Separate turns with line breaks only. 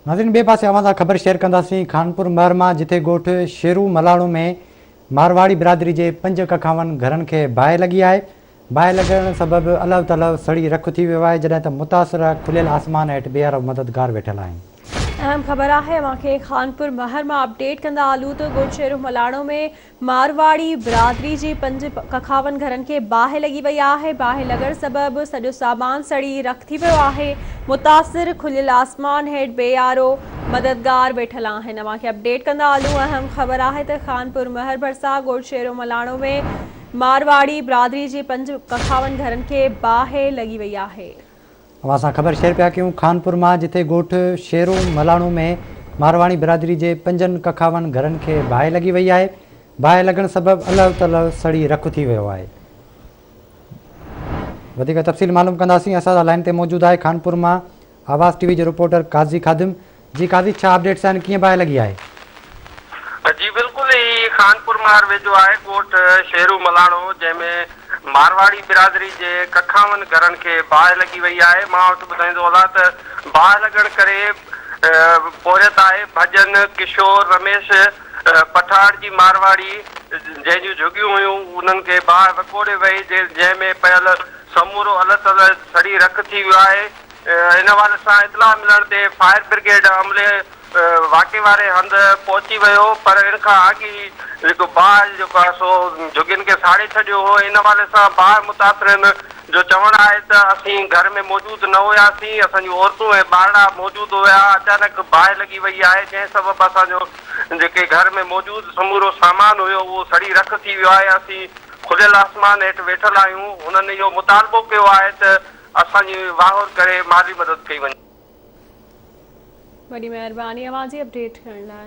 ناظرين ٻئي پاسي اوهان سان خبر شيئر ڪنداسين خانپور مهر مان جتي ڳوٺ شيرو ملاڻو ۾ مارواڙي برادري جي پنج ڪکاون گهرن کي باهه لڳي آهي باهه لڳڻ سبب الهو تلهو سڙي رک ٿي ويو آهي جڏهن ته متاثر کليل آسمان هيٺ بيهرو مددگار ويٺل آهن. اهم خبر
آهي اوهان کي خانپور مهر مان اپڊيٽ ڪندا هلون ته ڳوٺ شيرو ملاڻو ۾ مارواڙي برادري جي پنج ککاون گهرن کي باهه لڳي وئي آهي، باهه لڳڻ سبب سڄو سامان سڙي رک ٿي ويو آهي، متاثر کليل آسمان هيٺ بي آرو مددگار ويٺل آهن، اوهان کي اپڊيٽ ڪندا هلون، اهم خبر آهي ته خانپور مهر ڀرسان ڳوٺ شيرو ملاڻو ۾ مارواڙي برادري جي پنج ککاون گهرن کي باهه لڳي وئي آهي. اوهان سان خبر
شيئر پيا ڪيون خانپور مان جتي ڳوٺ شيرو ملاڻو ۾ مارواڻي برادري جي پنجن ڪکاون گهرن کي باهه لڳي وئي آهي باهه لڳڻ سبب الهه تلهه سڙي رک ٿي ويو آهي وڌيڪ تفصيل معلوم ڪنداسين اسان سان لائين تي موجود آهي خانپور مان آواز ٽي وي جو رپورٽر قاضي خادم جي قاضي ڇا اپڊيٽس آهن ڪيئن باهه لڳي آهي.
جي بلڪل هي خانپور مار ويجهو آهي ڳوٺ شيرو ملاڻو جنهن ۾ مارواڙي برادري جي ڪکاون گهرن کي باهه لڳي وئي آهي مان وٽ ٻڌائيندو هلان ته باهه لڳڻ ڪري پورهيت آهي ڀڄن ڪشور رميش پٺاڙ جي مارواڙي جنهن جون جهڳيون هيون انهن کي باهه وڪوڙي وئي جنهن ۾ پيل سمورو الهه تلهه سڙي رک ٿي ويو آهي. ان حوالي سان اطلاع ملڻ تي فائر برگيڊ عملي واقعي واري هنڌ پهچي ويو پر ان کان اڳ ئي جيڪو باهه جيڪو آهي سو جهڳين کي ساڙي ڇڏيو هو ان حوالي سان باهه متاثرين جو چوڻ آهي ته اسين گهر ۾ موجود نه هياسين اسان جون عورتون ۽ ٻارڙا موجود هيا اچانڪ باهه لڳي وئي آهي جنهن سبب اسان جو جيڪي گهر ۾ موجود سمورو سامان هيو اهو سڙي رک ٿي ويو آهي اسين کليل آسمان هيٺ ويٺل آهيون هنن اهو مطالبو ڪيو آهي ته اسان جي واهور ڪري مالي مدد ڪئي
وڃي.
وڏي
مهرباني
اوهان
جي اپڊيٽ
ڪرڻ
لاء.